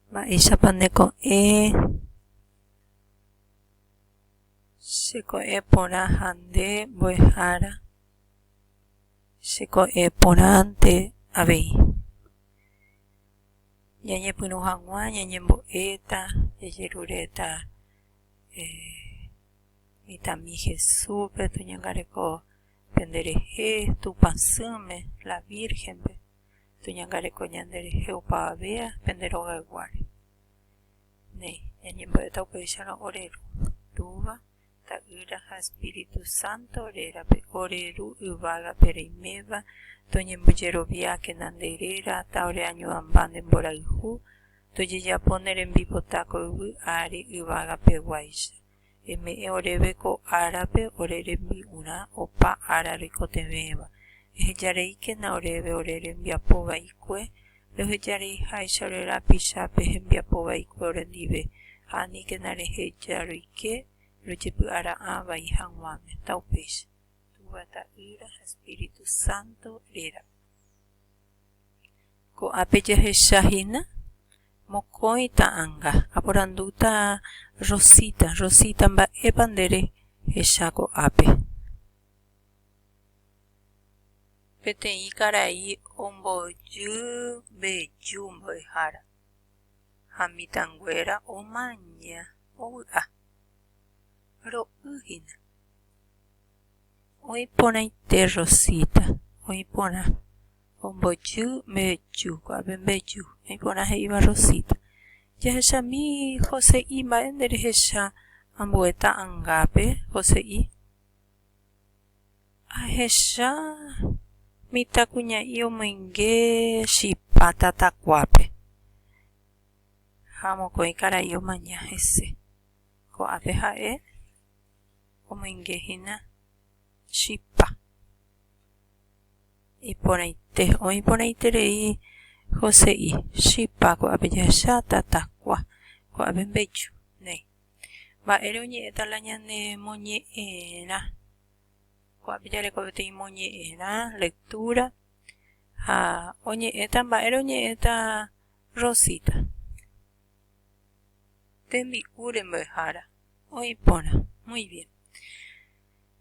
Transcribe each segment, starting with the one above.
Mba'éichapa nde ko'ẽ che ko'ẽ porã ha nde mbo'ehára che ko'ẽ porãnte avei. Ñañepyrũ hag̃ua ñañembo'éta, jajeruréta mitãmi Jesúspe toñangareko. Tenderehe Tupã sỹme, la Vírgenpe, toñangareko ñanderehe opavave pende rogayguáre. Néi, ñañembo'éta upéicharõ ore Ru, Túva, Ta'ýra ha Espíritu Santo rérape, ore Ru yvágape reiméva, toñembojeroviákena nde réra, ta ore añuãmba nde mborayhu, tojejapo ne rembipota ko yvy ári yvágapeguáicha. eme'ẽ oréve ko árape ore rembi'urã opa ára roikotevẽva, ehejareíkena oréve ore rembiapo vaikue, rohejareiháicha ore rapicha pe hembiapo vaikue orendive, ha aníkena reheja roike rojepy'ara'ã vai haguãme. Taupéicha. Túva Ta'ýra ha Espíritu Santo rérape. Ko'ápe jahecha hína mokõi ta'anga, aporandúta Rosita, Rosita mba'épa nde rehecha ko'ápe. Peteĩ karai ombojy mbeju mbo'ehára ha mitãnguéra omaña ovy'a. Ro'y hína. Oĩ porãite Rosita, oĩ porã. Ombojy mbeju, ko'ápe mbeju, naiporã he'íva Rosita. Jahechami Jose'i mba'e nderehecha ambue ta'angápe, Jose'i. Ahecha mitãkuña'i omoinge chipa tatakuápe. Ha mokõi karai omaña hese. Ko'ápe ha'e omoingehína chipa. Iporãite, oĩ porãiterei Joséi, chipa ko'ápe jahecha tatakua, ko'ápe mbeju, néi. Mba'ére oñe'ẽta la ñane moñe'ẽrã? Ko'ápe jareko peteĩ moñe'ẽrã, lectura, ha oñe'ẽta, mba'ére oñe'ẽta Rosita? Tembi'úre mbo'ehára, oĩ porã, muy bien.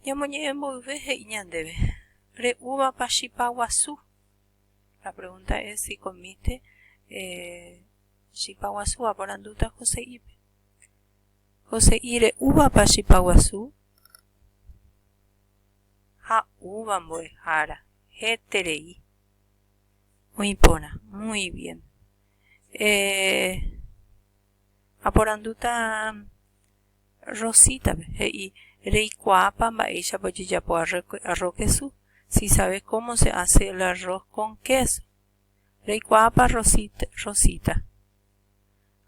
Ñamoñe'ẽmboyve he'i ñandéve, Re'úvapa chipa guasu? La pregunta es si comiste chipa guasu, aporandúta Jose'ípe. Jose'i, Re'úvapa chipa guasu? Ha úva mbo'ehára, héterei. Oĩ porã, muy bien. Eh, aporandúta. Rosítape, he'i, Reikuaápa mba'éichapa ojejapo arro kesu? Si sabes cómo se hace el arroz con queso. Reikuaápa Rosita?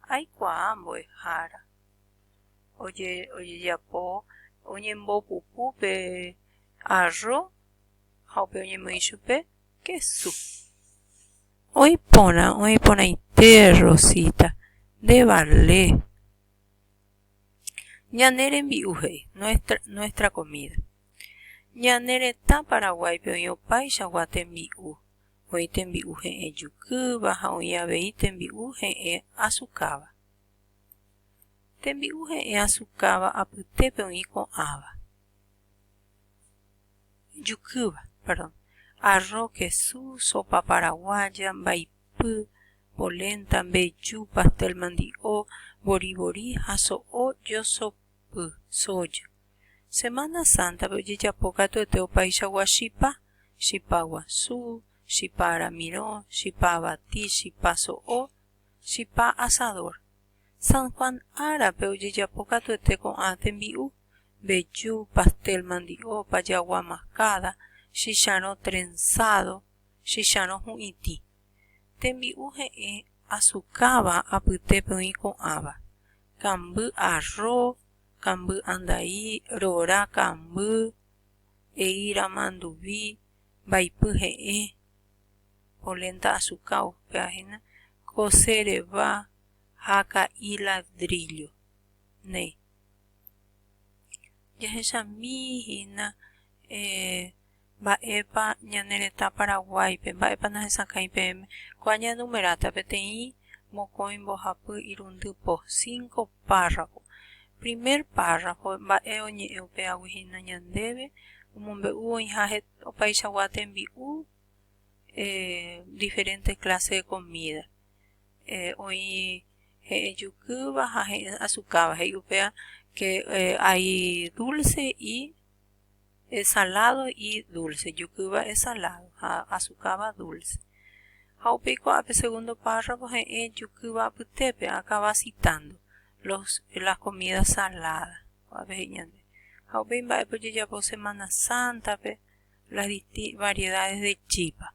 Aikuaa mbo'ehára. Ojejapo oñembopupu pe arro ha upe oñemoĩ chupe kesu. Oĩporã, oĩporãite Rosita, ndevale. Ñane rembi'u he'i, nuestra, nuestra comida. Ñane retã Paraguáipe oĩ opaichagua tembi'u, oĩ tembi'u he'ẽ jukýva ha oĩ avei tembi'u he'ẽ asukáva. Tembi'u he'ẽ asukáva apytépe oĩ ko'ãva, jukýva, perdón, arro, kesu, sopa paraguaya, mba'ipy. mbohapy, polenta, mbeju, pastel mandi'o, boribori ha so'o josopy, soja. Semana Santa-pe ojejapo katuete opaichagua chipa, chipa guasu, chipa aramirõ, chipa abati, chipa so'o, chipa asador. San Juan árape ojejapo katuete ko'ã tembi'u, mbeju, pastel mandi'o, pajagua mascada, chicharõ trenzado, chicharõ hu'itĩ, tembi'u he'ẽ asukáva apyte peõi ko'ãva, kamby arro, kamby andai, rora kamby, eíra manduvi, mbaipy he'ẽ, polenta asuka upévahina, kose reva ha ka'i ladrillo. Néi. Jahechamíhina eh, mba'épa ñane retã Paraguáipe, mba'épa nahesakãi peẽme, kóa ñaenumeráta peteĩ mokõi mbohapy irundy po, cinco párrafo. Primer párrafo, mba'e oñe'ẽ upéagui hína ñandéve, omombe'u oĩha opaichagua tembi'u, diferente clase de comida, oĩ he'ẽ jukýva ha he'ẽ asukáva, he'i upéva que hay dulce y esalado y dulce, jukýva esalado ha asukáva dulce. Ha upéi ko'ã pe segundo párrafo he'ẽ jukýva apytépe akaba citando los, las comidas saladas. Ko'ápe he'i ñande. Ha upéi mba'épa ojejapo Semana Sántape las variedades de chípa.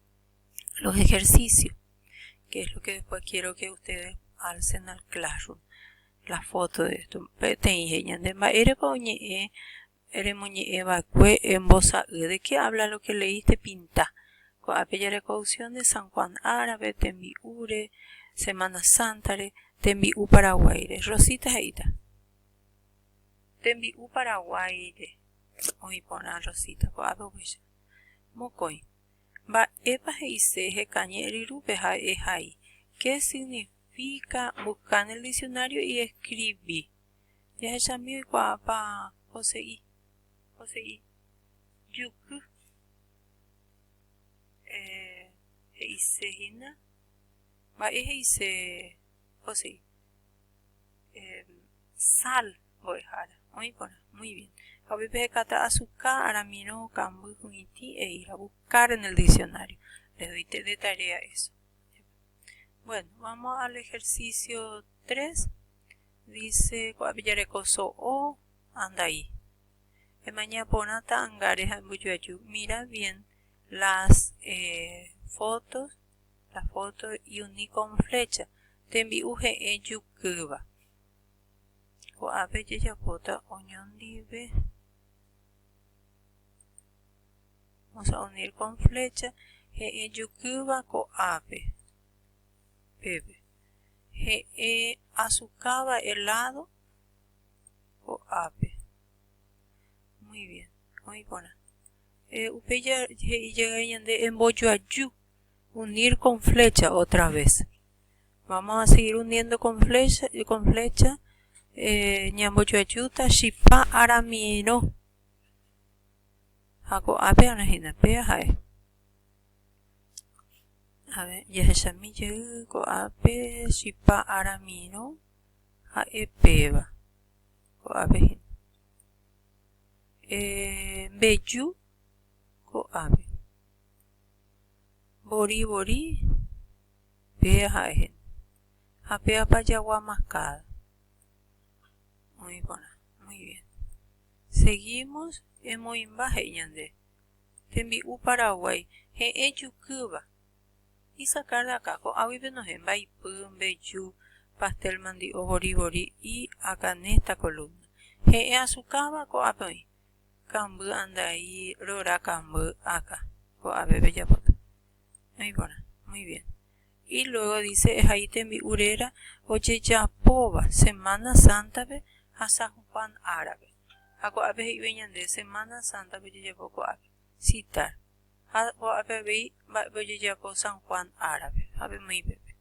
los ejercicios, que es lo que después quiero que ustedes alcen al classroom, la foto de esto. Peteĩ heñande mba'érepa oñe'ẽ remoñe'ẽ va'ekue embosa'y, de qué habla lo que leíste, pinta. Ko'ápe jareko opción de San Juan árabe, tembi'úre, Semana Sántare, tembi'u Paraguáire. Rosita he'íta. Tembi'u Paraguáire. Oĩ porã Rosita, ko'ápe upéicha. Mokõi. Mba'épa he'ise hekañe ryrúpe ha'e hai? Ke signifika busca en el diccionario y escribi. Jahechami oikuaápa poseí. Poseí. Juky. Eh, he'ise hína. Mba'e he'ise poseí. sal mbo'ehára, oĩ porã, muy bien. Ha upéi pehekáta azuka, aramirõ, kamby, hu'itĩ, he'íra, buscar en el diccionario. Les doy de tarea eso. Bueno, vamos al ejercicio 3. Dice, ku'apijareko so'o, andai. Emaña porãta angare ha embojoaju. Mira bien las eh, fotos. la foto y uni con flecha tembi'u he'ẽ jukýva ko'ápe jajapóta oñondive vamos a unir con flecha he'ẽ jukýva ko'ápe pépe he'ẽ asukáva helado ko'ápe muy bien oĩ porã upe he'i jaga'e ñande embojoaju unir con flecha otra vez. Vamos a seguir uniendo con flecha, con flecha eh, ñambojoajúta chipa aramirõ. Ha ko'ápe ára hína, péa ha'e. A ver, jahechami jey ko'ápe chipa aramirõ ha'e péva. Ko'ápe hína. Eh, mbeju ko'ápe. Vori vori pe ha'e hene. Ha pe apa jagua mascada. Oĩ porã. Muy bien. Seguimos. Emoĩmba he'i ñande. Tembi'u Paraguay. He'ẽ jukýva. Y sacar de acá. Ko'águi penohẽ. Mbaipy, mbeju, pastel mandi'o, vori vori y acá en esta columna. He'ẽ azucáva ko'ápe oĩ. kamby andai rora kamby áka ko'ave pejapóta no ipórta muy bien y luego dice ehai tembi'u réra ojejapóva semana sántape ha San Juan árape ha ko'ápe he'ive ñande semana sántape ojejapo ko'ápe sita ha ko'ápe avei mba'épe ojejapo San Juan árape ha pemoĩ pépe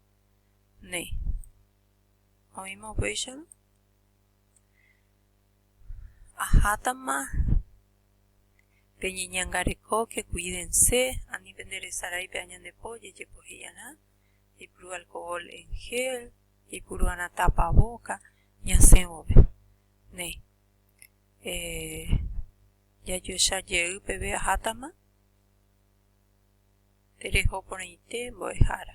néi oĩma upéicharõ Ahátama peñeñangarekóke, kuídense, ani penderesarái pe añandepo ojejepohejarã, jaipuru alkohól en gél, jaipuru'arã tapavóka ñasẽ vove. Néi, jajoecha jey peve ahátama tereho porãite mbo'ehára.